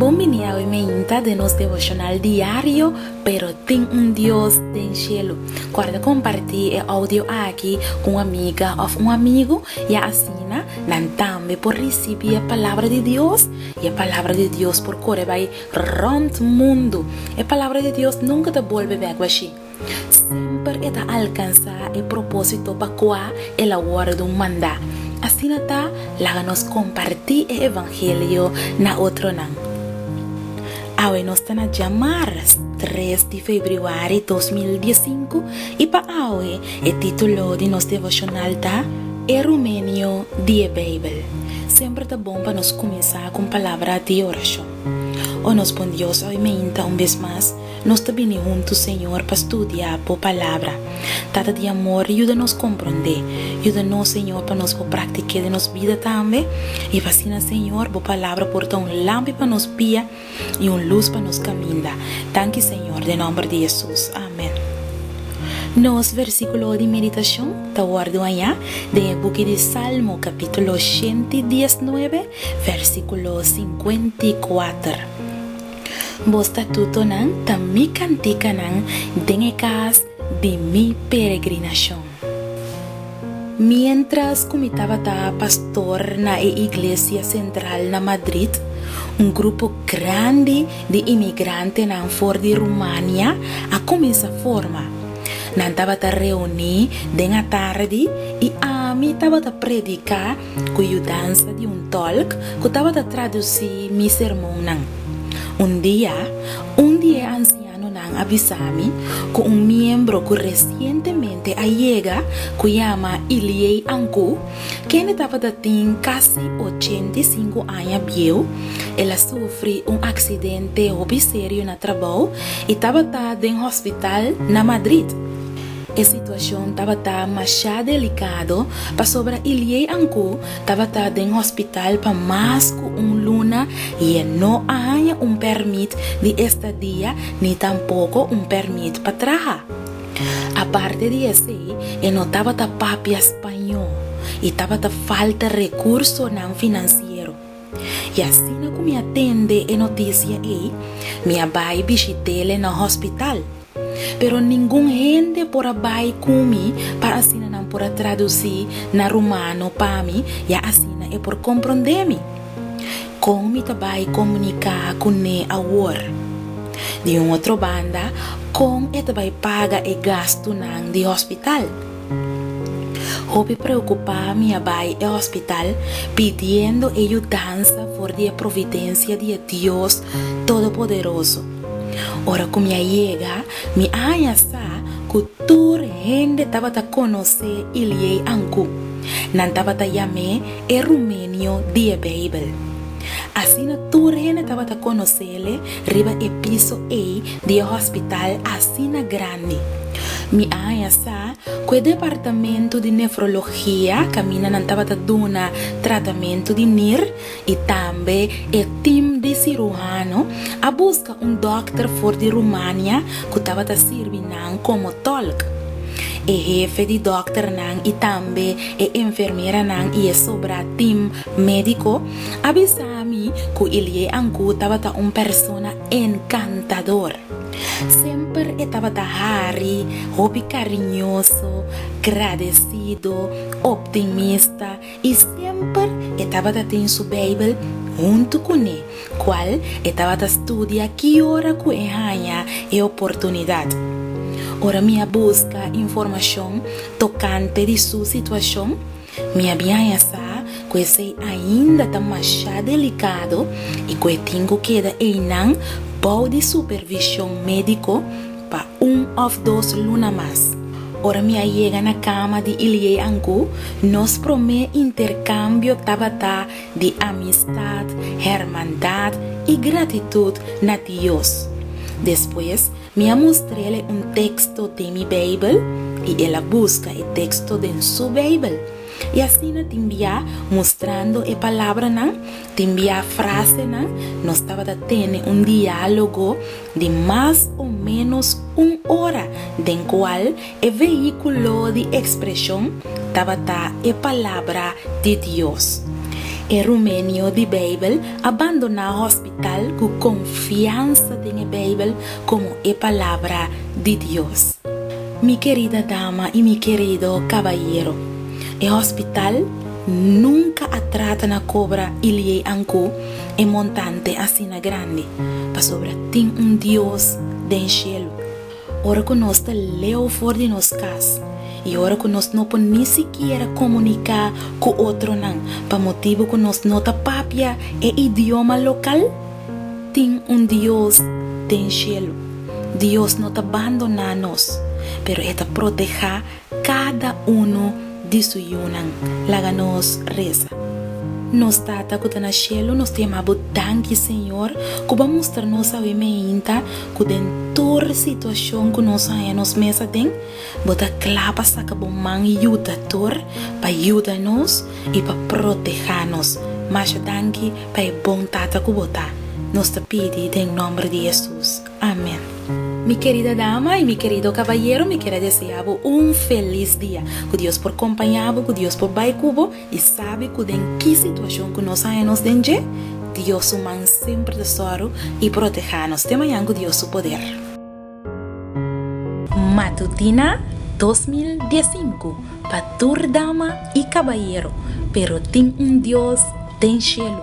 Bon bini awe meinta den nos devocional diario Pero tin un Dios den cielo. Corda comparti e audio aki cu un amiga of un amigo y asina nan tambe por ricibi e Palabra di Dios y e Palabra di Dios por core bay rond mundo. E Palabra di Dios nunca ta bolbe bek bashi. Semper e ta alkansá e propósito pa kua el a wòrdu mandá. Asina ta, laga nos kompartí e evangelio na otronan. Awe nos ta na djamars tres di febrüari dos mil diesinku i pa awe e título di nos devoshonal ta, E Rumenio di e Beibel. Semper ta bon pa nos kuminsá ku un palabra di orashon. O nos Bon Dios, awe mainta un bes mas. Nos ta bini huntu, Señor, pa studia Bo Palabra. Tata di amor, yuda nos komprondé. Yuda nos, Señor, pa nos por praktik'é den nos bida tambe, i pa asina, Señor, Bo Palabra por ta un lampi pa nos pia i un lus pa nos kaminda. Danki, Señor, den nòmber di Hesus. Amèn. Nos versíkulo di meditashon ta wòrdu hañá den e buki di Salmo, kapítulo shentidiesnuebe, versíkulo sinkuentiakuater. Bo statutonan ta mi kantikanan den e kas di mi peregrinashon. Miéntras ku mi tabata pastor na e iglesia sentral na Madrid, un grupo grandi di imigrantenan for di Rumania a kuminsá forma. Nan tabata reuní den atardi i ami tabata prediká ku yudansa di un tòlk ku tabata tradusí mi sermonnan. Un dia, un di e ansianonan a bisa mi ku un miembro ku resientemente a yega ku yama Ilie Anku, kende tabata tin kasi ochenta i sinku aña bieu, el a sufri un aksidente hopi serio na trabou i tabata den hospital na Madrid. E situacion tabata masha delicado pasobra Ilie Ancu tabata den hospital pa mas cu un luna y e no a haña un permit di estadia ni tampoco un permit pa traha. Aparte di esey e no tabata papia Spaño y tabata falta recursonan financiero. I asina ku mi a tende e notisia ei, mi a bai bishit'el na hospital. Pero ningun hende por a bai ku mi pa asina nan por a tradusí na rumano pa mi ya asina e por komprondé mi. Kon mi ta bai komuniká kuné awor? Di un otro banda, kon e ta bai paga e gastunan di hospital? Hopi preokupá mi a bai e hospital pidiendo e yudansa for di e providensia di e Dios Todopoderoso. Ora ku mi a yega, mi a haña sa ku tur hende tabata konosé Iliey Ancu. Nan tabata yam'é e Rumenio di e Beibel. Asina tur hende tabata konosé le riba e piso ei di e hòspital asina grandi. Mi a haña sa ku e departamentu di nefrologia kaminda nan tabata duna tratamentu di nir i tambe e tim di siruhano a buska un dòkter for di Rumania ku tabata sirbi nan komo tòlk. E hefe di dòkternan i tambe e enfermeranan i e sobra tim Médiko a bisa mi ku Ilie Ankou tabata un persona enkantador. Semper e tabata hari, hopi kariñoso, gradesido, optimista i semper e tabata tin su Beibel huntu kuné, kual e tabata studia ki ora ku e haña e oportunidat. Ora mi a buska informashon tokante di su situashon, Mi a bin haña sa ku esei ainda ta mashá delikado i ku e tin ku keda einan bou di supervishon médiko pa un òf dos luna mas. Ora mi a yega na kama di Ilie Angu, nos promé interkambio tabata di amistat, hermandat i gratitut na Dios. Despues Mi a mustr'el e un teksto den mi Beibel i el a buska e teksto den su Beibel. I asina tin bia, mustrando e palabranan, tin bia frasenan, nos tabata tene un diálogo di mas o ménos un ora den kual e vehíkulo di ekspreshon tabata e Palabra di Dios. E Rumenio di Beibel a bandoná hòspita. tal ku konfiansa den e Beibel komo e Palabra di Dios. Mi kerida dama i mi kerido kabayero, e hòspital nunka a trata na kobra i liei anku e montante asina grandi, pasobra tin un Dios den shelu. Ora ku nos ta leu for di nos kas i ora ku nos no por ni sikiera komuniká ku otronan pa motibu ku nos no ta papia e idioma lokal, tin un Dios den shelu. Dios no ta bandoná nos, pero e ta protehá Kada unu di su yunan. Laga nos resa. Nos Tata ku ta na shelu, nos ta yama bo danki, Señor, ku bo a mustra nos awe meinta ku den tur situashon ku nos a haña nos mes aden, bo ta kla pa saka bo man yudator pa yuda nos i pa proteha nos. Masha danki pa e bon Tata ku bo ta. Nos ta pidi den nomber di Hesus. Amen. Mi kerida dama y mi kerido kabayero mi kere desea bo un felis dia. Ku Dios por kompaña bo, ku Dios por bai ku bo y sabi ku den ki situacion ku nos haña nos den dje, Dios su man semper ta sòru y proteha nos te mañan ku Dios su poder. Matutina dos mil dies sinku pa tur dama y kabayero pero tin un Dios den shelu.